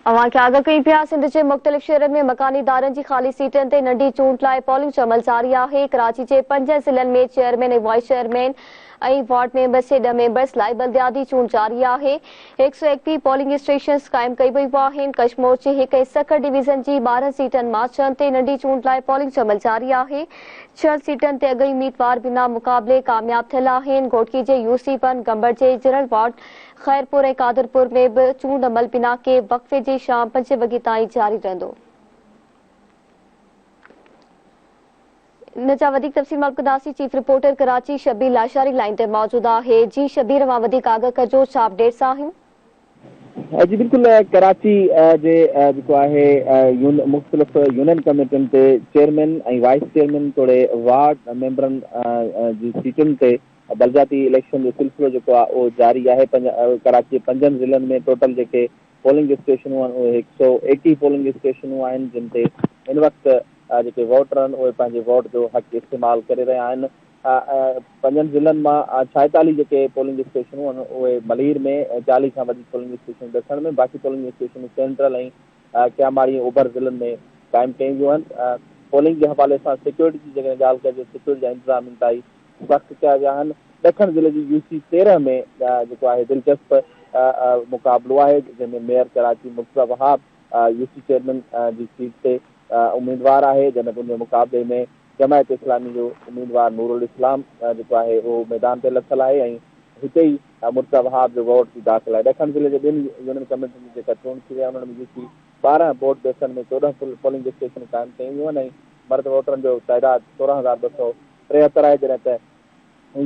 اوهان کي آگاهه ڪيون پيا، سنڌ جي مختلف شهرن ۾ مڪاني ادارن جي خالي سيٽن تي ننڍي چونڊ لاء پولنگ جو عمل جاري آهي، ڪراچي جي پنجن ضلعن ۾ chairman ۽ vice chairman ۽ ward members جي ڏهه ميمبرز لاء بلدياتي چونڊ جاري آهي، هڪ سؤ ايڪٽيهه پولنگ اسٽيشنز قائم ڪئي ويون آهن، ڪشمور جي هڪ ۽ سکر ڊويزن جي ٻارهن سيٽن مان ڇهن تي ننڍي چونڊ لاء پولنگ جو عمل جاري آهي، ڇهن سيٽن تي اڳئين اميدوار بنا مقابلي ڪامياب ٿيل آهن، گهوٽڪي جي يوسي ون گمبڙ جي جنرل وارڊ خيرپور ۽ قادرپور ۾ به چونڊ عمل بنا ڪنهن وقفي جي شام پنج وڳي تائين جاري رهندو. ان جا وڌيڪ تفصيل معلوم ڪنداسين chief reporter Karachi Shabbir Lashari line تي موجود آهي جي شبير اوهان وڌيڪ آگاهه ڪجو ڇا اپڊيٽس آهن. جي بلڪل ڪراچي جي جيڪو آهي مختلف يونين ڪميٽين تي چيئرمين ۽ وائيس چيئرمين توڙي وارڊ ميمبرن جي سيٽن تي بلدياتي اليڪشن جو سلسلو جيڪو آهي اهو جاري آهي ڪراچي جي پنجن ضلعن ۾ ٽوٽل جيڪي پولنگ اسٽيشنون آهن اهي هڪ سؤ ايڪيهه پولنگ اسٽيشنون آهن جن تي هن وقت جيڪي ووٽر آهن اهي پنهنجي ووٽ جو حق استعمال ڪري رهيا آهن پنجن ضلعن مان ڇائيتاليهه جيڪي پولنگ اسٽيشنون آهن اهي ملير ۾ چاليهه کان وڌيڪ پولنگ اسٽيشنون ڏکڻ ۾ باقي پولنگ اسٽيشنون سينٽرل ۽ ڪياماڙي ۽ اوڀر ضلعن ۾ قائم ڪيون ويون آهن پولنگ جي حوالي سان سيڪيورٽي جي جيڪڏهن ڳالهه ڪجي سيڪيورٽي جا انتظام انتهائي سخت چيا ويا آهن ڏکڻ ضلعي جي يو سي تيرنهن ۾ جيڪو آهي دلچسپ مقابلو آهي جنهن ۾ mayor Karachi Murtaza Wahab U C chairman جي سيٽ تي اميدوار آهي جڏهن ته ان جي مقابلي ۾ جماعت اسلامي جو اميدوار نورالاسلام جيڪو آهي اهو ميدان تي لٿل آهي ۽ هتي ئي مرتضيٰ وهاب جو ووٽ جي داخل آهي ڏکڻ ضلعي جي ٻن يونين ڪميٽين جي جيڪا چونڊ ٿي وئي آهي انهن ۾ يو سي ٻارنهن بوٽ بيسن ۾ چوڏهن پولنگ اسٽيشنون قائم ڪيون ويون آهن ۽ مرد ووٽرن جو تعداد سورهن هزار ٻه سؤ ٽيهتر آهي جڏهن ته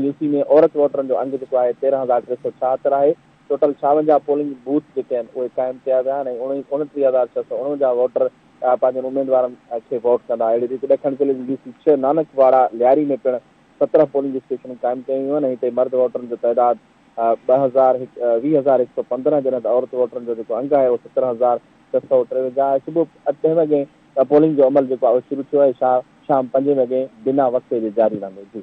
يو سي ۾ عورت ووٽرن جو انگ جيڪو آهي تيرنهن هزار ٽي سؤ ڇاهتر آهي ٽوٽل ڇاونجاهه پولنگ بوٿ جيڪي آهن اهي قائم ڪيا ويا آهن ۽ اڻٽيهه هزار ڇهه سؤ اڻونجاهه ووٽر پنهنجن اميدوارن کي ووٽ ڪندا اهڙي ريت ڏکڻ ضلعي جي يو سي ڇهه نانڪ واڙا لياري ۾ پڻ سترهن پولنگ اسٽيشنون قائم ڪيون ويون آهن ۽ هتي مرد ووٽرن جو تعداد ٻه هزار هڪ ويهه هزار هڪ سؤ پندرهن جڏهن ته عورت ووٽرن جو جيڪو انگ آهي اهو سترهن هزار ڇهه سؤ ٽيونجاهه آهي صبح ڏهه وڳين ته پولنگ جو عمل جيڪو آهي اهو شروع ٿيو آهي شام پنجين وڳي بنا وقفي جي جاري رهندو. جي.